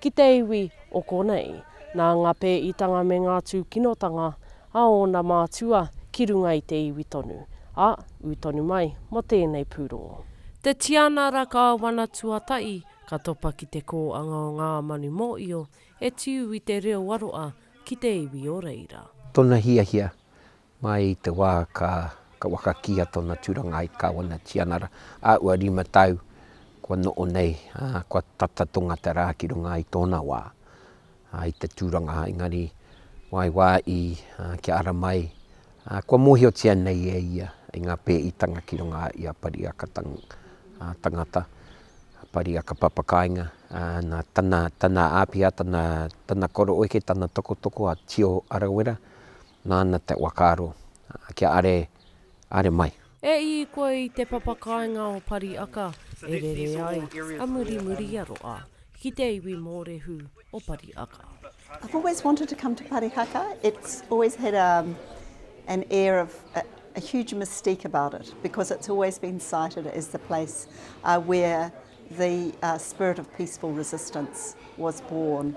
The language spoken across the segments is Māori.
Ki te iwi o konei. Nā ngā pēitanga me ngā tūkinotanga a ōna mātua ki runga i te iwi tonu, a, ū tonu mai mō tēnei pūrongo. Te Tianara Kāwana Tuatahi ka topa ki te kōanga o ngā manu mōio e tiu i te reo aroa ki te iwi o reira. Tona hiahia, Mai i te wā ka waka kīia tōna tūranga ai Kāwana Tianara, a ua rima tau kua noʻo nei, ā, kua tata tonga te rā ki runga i tōna wā, ā, i te tūranga, engari, wā i wā i, ā, kia ara mai, ā, kua mōhiotia nei e ia i ngā pēitanga ki runga i a Pariaka tangata, a Pariaka papakāinga, ā, nā tana, tana āpiha, tana, tana koroeke, tana tokotoko, a Tio Arawera, Nāna te whakaaro, kia are, are mai. E i koe i te papa kāinga o Pariaka, e rere ai a muri muri i a roa ki te iwi mōrehu o Pariaka. I've always wanted to come to Parihaka, it's always had a an air of a huge mystique about it because it's always been cited as the place where the spirit of peaceful resistance was born.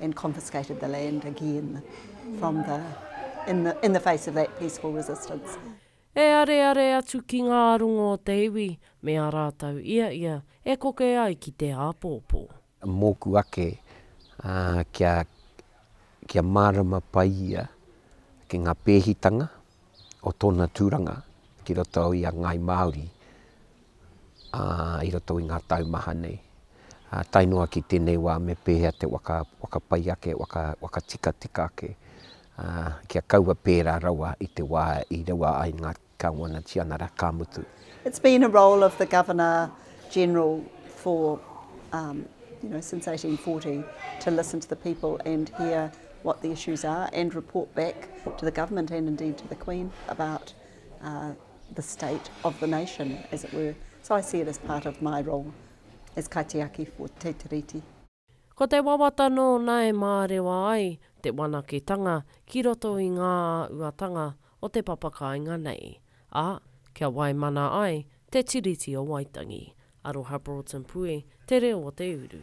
and confiscated the land again from the, in the, in the face of that peaceful resistance. E areare atu ki ngā rongo o te iwi me a rātou ia ia e koke ai ki te āpōpō. Mōku ake, ā, kia, kia mārama pai ia ki ngā pēhitanga. o tōna tūranga ki roto i a Ngāi Māori i roto i ngā tau maha nei. Tae noa ki tēnei wā me pēhea te waka, waka pai ake, waka, waka tikatika ake kia kaua pērā rawa i te wā i rewa ai ngā Kāwana Tianara, ka mutu. It's been a role of the Governor General for, you know, since 1840 to listen to the people and hear what the issues are and report back to the government and indeed to the Queen about uh, the state of the nation, as it were. So I see it as part of my role as kaitiaki for Te Tiriti. Ko te wawata nōna e mārewa ai te whanaketanga ki roto i ngā āhuatanga o te papakāinga nei, ā, kia waimana ai Te Tiriti o Waitangi. Aroha Broughton Pue, Te Reo o te Uru.